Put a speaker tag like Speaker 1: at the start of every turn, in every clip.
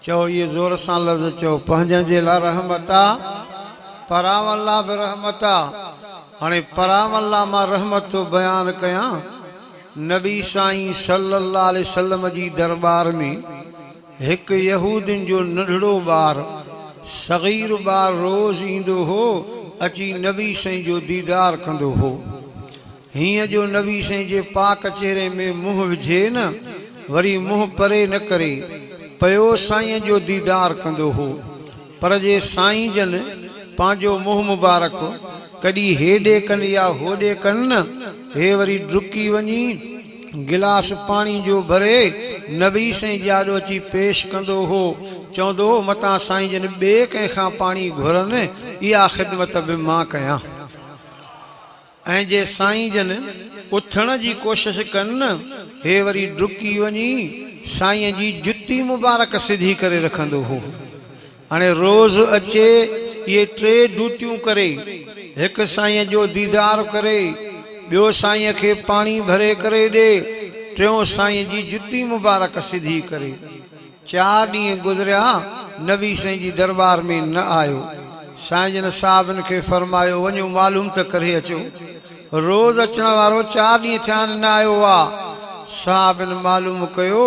Speaker 1: چئو اهي زور سان لفظ چئو. پنهنجن جي لا رحمت آ پراون لا به رحمت آ هاڻي پراون لا مان رحمت ٿو بيان ڪيان نبي سائين صلي الله عليه وسلم جي درٻار ۾ هڪ يهودين جو ننڍڙو ٻار صغير ٻار روز ايندو هو اچي نبي سائين جو ديدار ڪندو هو هينئن جو نبي سائين جي پاڪ چهري ۾ منهن وجهي نه وري منهن پري نه ڪري پيو سائين جو ديدار ڪندو هو پر جي سائين جن پنهنجو منهن مبارڪ ڪڏي هيڏي ڪن يا هوڏي ڪن نه هي وري ڊڪي وڃي گلاس پاڻي جو ڀري نبي سائين جي آڏو اچي پيش ڪندو هو چوندو هو متان سائين جن ٻئي ڪنهن کان پاڻي گهرن اها خدمت به مان ڪيان. ۽ جي سائين جن اٿڻ جي ڪوشش ڪن نه هي وري ڊڪي وڃي سائين جي جتي مبارڪ سڌي ڪري رکندو هو هاڻي روز اچي اهي ٽي ڊوٽيون ڪري هڪ سائين جو ديدار ڪري ٻيو سائين کي پاڻي ڀري ڪري ڏي ٽيون سائين جي جتي مبارڪ سڌي ڪري چار ڏينهن گذريا نبي سائين جي درٻار ۾ نه آيو. سائين جن صحابن کي فرمايو وڃو معلوم ته ڪري اچو. روز اچڻ وارو چار ڏينهن ٿيا آهن نه آيو آ. صحابن معلوم ڪيو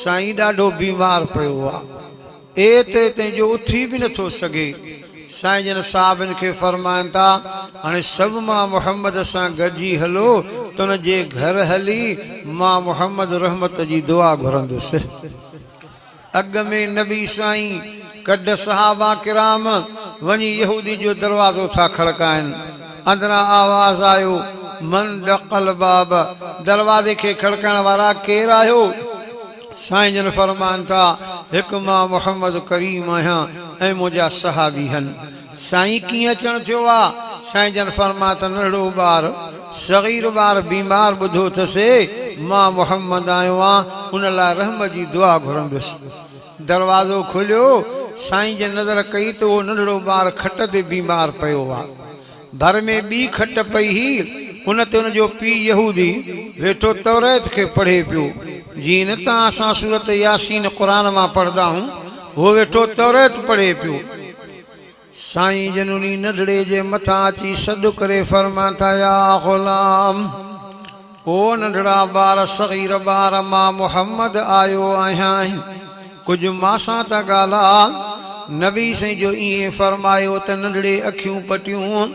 Speaker 1: سائين ڏاڍو بيمار پيو آ. ايت ايتين جو اٿي به نه ٿو سگهي. سائين جن صحابين کي فرمائن ٿا، هاڻي سڀ مان محمد سان گڏجي هلو ته ان جي گهر هلي مان محمد رحمت جي دعا گهرندس. اڳ ۾ نبي سائين ڪڍ صحابه ڪرام وڃي يهودي جو دروازو ٿا کڙڪائن. اندران آواز آيو، من دق الباب، دروازي کي کڙڪائڻ وارا ڪير آهيو؟ سائين جن فرمائن ٿا، هڪ مان محمد ڪريم آهيان ۽ منهنجا صحابي هن. سائين ڪيئن اچڻ ٿيو آ؟ سائين جن فرمايا ته ننڍڙو ٻار، صغير ٻار بيمار ٻڌو ٿس مان محمد آيو آن ان لاء رحم جي دعا گهرندس. دروازو کليو، سائين جن نظر ڪئي ته اهو ننڍڙو ٻار کٽ تي بيمار پيو آ. ڀر ۾ ٻي کٽ پئي هئي، ان تي ان جو پيء يهودي ويٺو توريت کي پڙهي پيو. جيئن نه ته اسان سورت ياسين قرآن مان پڙهندا هون، هو ويٺو توريت پڙهي پيو. سائين جن انهي ننڍڙي جي مٿان اچي سڏ ڪري فرمائن ٿا، يا غلام! او ننڍڙا ٻار صغير ٻار مان محمد آيو آهيان ڪجهه مان سان ته ڳالهاء نبي سائين جو ائين فرمايو ته ننڍڙي اکيون پٽيون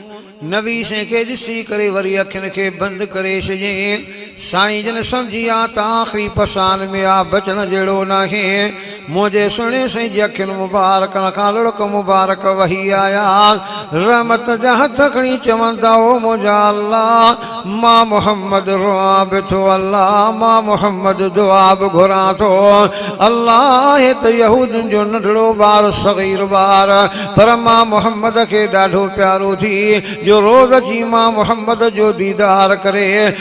Speaker 1: نبي سائين کي ڏسي ڪري وري اکين کي بند ڪري ڇڏيائين سائين جن سمجهي آ ته آخري پسان ۾ آ بچڻ جهڙو ناهي منهنجي سهڻي سائين جي اکين مبارڪن کان لڙڪ مبارڪ وهي آيا. رحمت جا هٿ کڻي چون ٿا او منهنجا الله! مان محمد روئان به ٿو الله! مان محمد دعا به گهران ٿو الله! آهي ته يهودين جو ننڍڙو ٻار صغير ٻار پر مان محمد کي ڏاڍو پيارو ٿي جو روز اچي مان محمد جو ديدار ڪري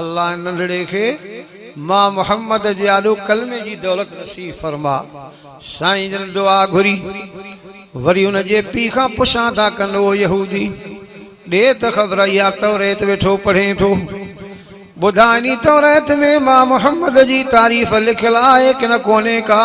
Speaker 1: الله ننڍڙي کي مان محمد جي آڏو ڪلمي جي دولت نصيب فرما. سائين جن دعا گهري. وري ان جي پيء کان پڇان ٿا ڪن او يهودي! ڏي ته خبر اها توريت ويٺو پڙهين ٿو. ٻڌاء انهي توريت ۾ مان محمد جي تعريف لکيل آهي ڪنه ڪونهي ڪا؟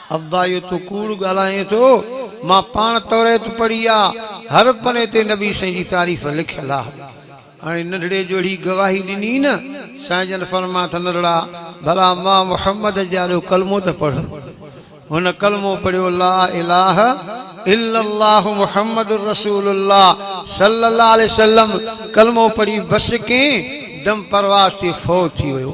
Speaker 1: ابا اهو تون ڪوڙ ڳالهائين ٿو، مان پاڻ توريت پڙهي آ، هر پني تي نبي سائين جي تعريف لکيل آ. هاڻي ننڍڙي جو اهڙي گواهي ڏني نه، سائين جن فرمايو ته ننڍڙا ڀلا مان محمد جي آڏو ڪلمو ته پڙهه. هن ڪلمو پڙهيو لا اله الا الله محمد رسول الله صلي الله عليه وسلم ڪلمو پڙهي بس ڪئين دم پرواز تي فوت ٿي ويو.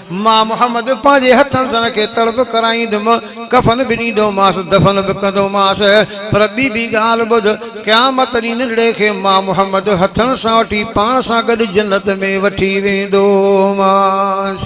Speaker 1: مان محمد پنهنجي هٿن سان ان کي تڙ به ڪرائيندم، ڪفن به ڏيندومانس، دفن به ڪندومانس، پر ٻي به ڳالهه ٻڌ، قيامت ڏينهن ننڍڙي کي مان محمد هٿن سان وٺي پاڻ سان گڏ جنت ۾ وٺي ويندومانس.